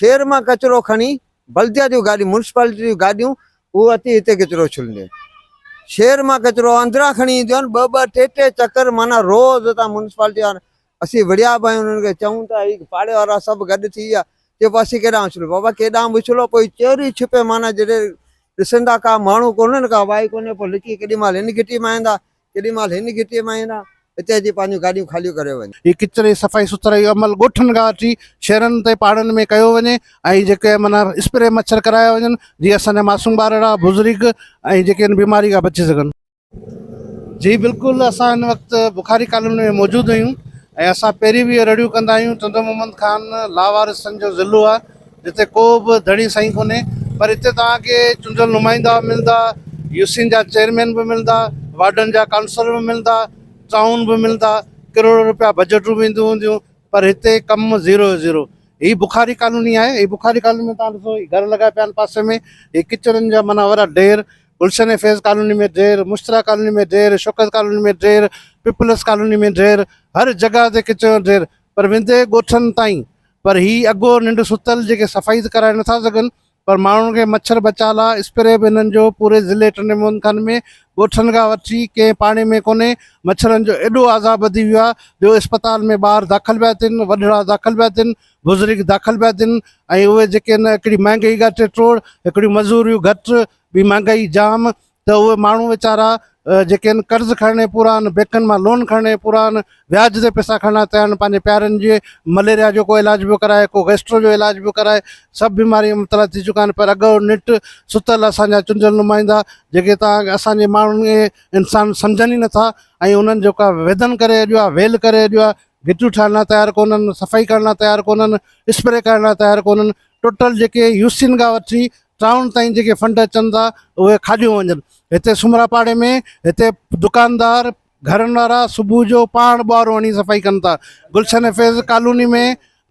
ٺير مان ڪچرو کڻي بلديا جون گاڏيون ميونسپالٽي جون گاڏيون اهو اچي هتي ڪچرو ڇلنديون آهن شهر مان ڪچرو اندران کڻي اينديون آهن ٻه ٻه ٽي ٽي چڪر معنيٰ روز هتان ميونسپالٽي وارا اسين وڙهيا به آهيون انهن کي چئون ٿا هي پاڙي وارا سڀ گڏ ٿي ويا چئبو آهي اسين ڪيڏانهن اڇلون بابا ڪيڏانهن به اڇلو پوء چوري ڇپي معنيٰ جڏهن ڏسندا ڪا ماڻهو ڪونهن ڪا وائي ڪونهي پوء لڪي ڪيڏي مهل ان گهٽي مان ايندا ڪيڏي مهل هن گهٽيء مان ايندا، هتي اچي پنهنجون گاڏيون خاليون ڪريو وڃ. هي ڪچري صفائي سٿرائي جو عمل ڳوٺن کان وٺي شهرن تائين پاڙن ۾ ڪيو وڃي ۽ جيڪي من اسپري مڇر ڪرايا وڃن جيئن اسان جا معصوم ٻارڙا، بزرگ ۽ جيڪي هن بيماري کان بچي سگهن. جي بلڪل اسان هن وقت بخاري ڪالوني ۾ موجود آهيون ۽ اسان پهرين به اهي رڙيون ڪندا آهيون، چندو محمد خان لاوارثن جو ضلعو آهي، جتي ڪو به ڌڻي سائين ڪونهي پر هتي توهان کي چونڊيل نمائندا به ملندا، يوسين جا چيئرمين به ملندا، وارڊن جا ڪائونسلر به ملندا، ٽائون به ملندا، ڪروڙ رپيا بجيٽون به اينديون هونديون پر هتي ڪم زيرو جو زيرو. هي بخاري ڪالوني آهي، هي بخاري ڪالوني ۾ توهان ڏسو هي گهر لڳا پيا آهن پاسي ۾ هي ڪچرن جا معنيٰ وڏا ڍير، گلشن ۽ فيض ڪالوني ۾ ڍير، مشتريٰ ڪالوني ۾ ڍير، شوڪت ڪالوني ۾ ڍير، پيپلز ڪالوني ۾ ڍير، هر جڳهه تي ڪچرن جو ڍير پر ويندي ڳوٺن تائين پر هي اگهور ننڊ ستل جيڪي صفائي ته ڪرائي نٿا سگهن پر ماڻهن کي مڇر بچاء لاء اسپري به هنن جو پوري ضلعي ٽنڊي محمد خان ۾ ڳوٺن کان وٺي ڪنهن پاڙي ۾ ڪونهي مڇرن جو ايڏو عذاب وڌي ويو آهي جو اسپتال ۾ ٻار داخل پيا ٿين وڏڙا داخل پيا ٿين بزرگ داخل پيا ٿين ۽ اهي جيڪي هن هڪڙي مهانگائي ڳاٽي ٽوڙ هڪڙيون مزوريون گهٽ ٻي مهانگائي جام ته اهي ماڻهو ويچارا جيڪي آهن قرض کڻڻ جي پورا آهن بينڪن مان لون کڻڻ جي پورا آهن وياج تي پيسا کڻڻ لاء تيار آهن پنهنجي پيارن جي مليريا جو ڪو علاج پيو ڪرائي ڪو گيسٽرو جو علاج پيو ڪرائي سڀ بيماري ۾ مبتلا ٿي چڪا آهن پر اڳ او نٽ ستل اسانجا چونڊيل نمائندا جيڪي تان اسانجي ماڻهن کي انسان سمجهن ئي نٿا ۽ انهن جو ڪا ويدن ڪري اڄ آهي ويل ڪري اڄ آهي گهٽيون ٺاهڻ لاء تيار ڪونهن صفائي ڪرڻ لاء تيار ڪونهن اسپري ڪرڻ لاء تيار ڪونهن ٽوٽل جيڪي يوسين کان وٺي ٽائون تائين جيڪي فنڊ اچن ٿا اهي کاڄيون وڃن هتي سومرا پاڙي ۾ هتي دڪاندار گهرن وارا صبح جو پاڻ ٻوهارو هڻي صفائي ڪن ٿا گلشن فيض ڪالوني ۾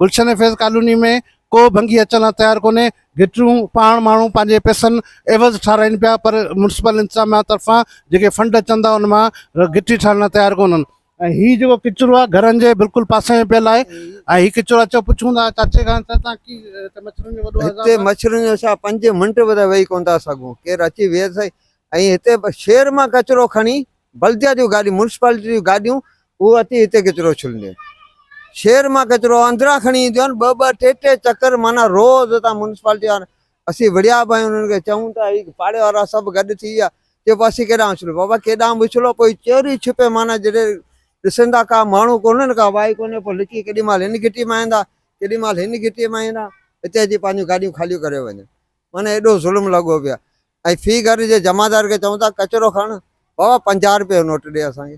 گلشن فيض ڪالوني ۾ ڪو ڀنگي اچڻ لاء تيار ڪونهي گٽرون پاڻ ماڻهو پنهنجي پيسن عيوض ٺارائين پيا پر ميونسپل انتظاميا طرفان جيڪي فنڊ اچن ٿا ان مان گٽي ٺارڻ لاء تيار ڪونهن ۽ هي جيڪو ڪچرو آهي گهرن جي بلڪل پاسي ۾ پيل آهي ۽ هي ڪچرو اچو پڇون ٿا چاچي کان ته تان ڪي هتي مڇرن جو وڏو عذاب هتي مڇرن جو ڇا پنج منٽ به ته ويهي ڪونه ٿا سگهون ڪير اچي ويهي سهي ۽ هتي شهر مان ڪچرو کڻي بلديا جون گاڏيون ميونسپالٽي جون گاڏيون هو اچي هتي ڪچرو ڇلنديون شهر مان ڪچرو اندران کڻي اينديون آهن ٻه ٻه ٽي ٽي چڪر معنيٰ روز هتان ميونسپالٽي وارا اسين وڙهيا به ۽ انهن کي چئون ته اي پاڙي وارا سڀ گڏ ٿي ويا، چئبو اسين ڪيڏانهن اڇلون؟ بابا ڪيڏانهن به اڇلو پوء چوري ڇپي معنيٰ جڏهن ڏسن ٿا ڪا ماڻهو ڪونهن ڪا وائي ڪونهي پوء لڪي ڪيڏي مهل هن گهٽيء مان ايندا ڪيڏي مهل هن گهٽيء مان ايندا هتي اچي پنهنجون گاڏيون خاليون ڪري وڃن معنيٰ ايڏو ظلم لڳو پيو آهي ۽ في گهر جي جمعدار کي چئون ٿا ڪچرو کڻ بابا پنجاهه روپيه جو نوٽ ڏي اسان کي.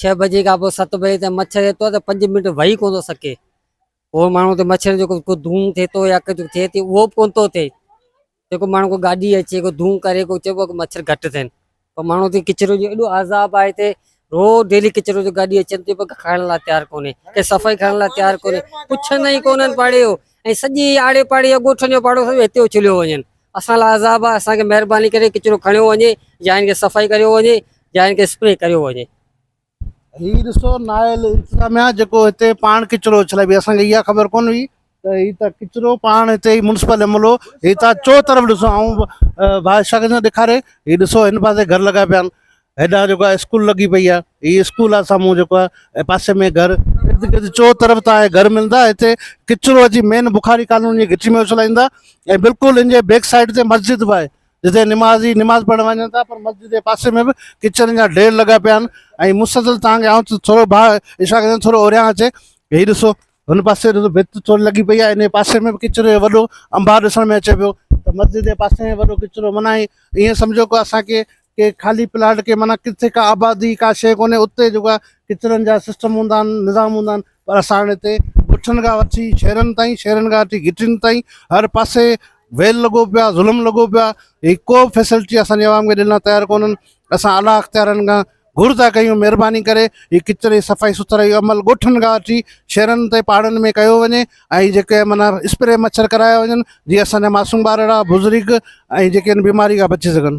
ڇهه بجي کان پوء ست بجي تائين مڇر ايترو آهي ته پنج منٽ ويهي ڪونه ٿو سگهي اهو ماڻهو ته مڇر جيڪو ڪو ڌونء ٿئي ٿو يا ڪجهه ٿئي ٿي اهو به ڪونه ٿو ٿئي جيڪو ماڻهو ڪو گاڏي اچي ڪو ڌونء ڪري ڪو چئبو آهي مڇر گهٽ ٿين پر ماڻهو تي ڪچرو جو ايڏو عذاب آهي هتي روز ڊيلي ڪچرو جو گاڏي اچن ٿي پر کائڻ لاء تيار ڪونهي ڪي صفائي کائڻ لاء تيار ڪونهي پڇندا ئي ڪونهن پاڙي جو ۽ سڄي آڙي پاڙي يا ڳوٺن جو پاڙو سڄو هتي اڇليو وڃن اسان لاء عذاب آهي اسان کي مهرباني ڪري ڪچرو کڻيو وڃي يا هن کي صفائي ڪريو وڃي يا ان کي اسپري ڪريو وڃي. هي ڏسو نااهل انتظاميا جيڪو هتي پاڻ ڪچرو اڇلائي بي اسان کي اها خبر ڪون هئي ته هي ته ڪچرو پاڻ هتي هي مونسپل عملو هي ته چو طرف ڏسو آئون ڀاء شاهه کي ٿو ڏيکاري هي ڏسو هن پاسي گهر لڳا پيا آهن هيڏانهن جيڪو آهي اسڪول لڳي پئي آهي هي اسڪول آهي سامهون جيڪو آهي پاسي ۾ گهر ارد گرد چو طرف تان گهر ملندا هتي ڪچرو اچي مين بخاري ڪالوني جي گهٽي ۾ اڇلائيندا ۽ بلڪل ان جي بيڪ سائيڊ تي مسجد به آهي جتي نمازي نماز پڙهڻ وڃن ٿا پر مسجد جي پاسي ۾ به ڪچرن جا ڍير لڳا پيا آهن ۽ مسلسل توهان کي آئون ٿورو ڀاء اشارا ڪندو ٿورو اوريان اچي هي ڏسو هن پاسي ڏسو ڀت ٿوري لڳي پئي آهي ان پاسي ۾ به ڪچرو جو وڏو انبار ڏسڻ ۾ اچي پيو ته مسجد جي پاسي ۾ وڏو ڪچرو منا ائين سمجهو ڪو اسان کي ڪي خالي پلاٽ ڪي منا ڪٿي ڪا آبادي ڪا شيء ڪونهي اتي جيڪو ڪچرن جا سسٽم هوندا آهن نظام هوندا آهن پر اسان هتي ڳوٺن کان وٺي شهرن تائين شهرن کان وٺي گهٽين تائين هر پاسي ويل لڳو پيو آهي ظلم لڳو پيو آهي هي ڪو به فيسلٽي اسان جي عوام کي ڏيڻ لاء تيار ڪونهن اسان اعليٰ اختيارن کان گهر ٿا ڪيون مهرباني ڪري هي ڪچري جي صفائي سٿرائي جو عمل ڳوٺن کان وٺي شهرن تائين پاڙن ۾ ڪيو وڃي ۽ جيڪي مانا اسپري مڇر ڪرايا وڃن جيئن اسان جا معصوم ٻار اهڙا بزرگ ۽ جيڪي ان بيماري کان بچي سگهن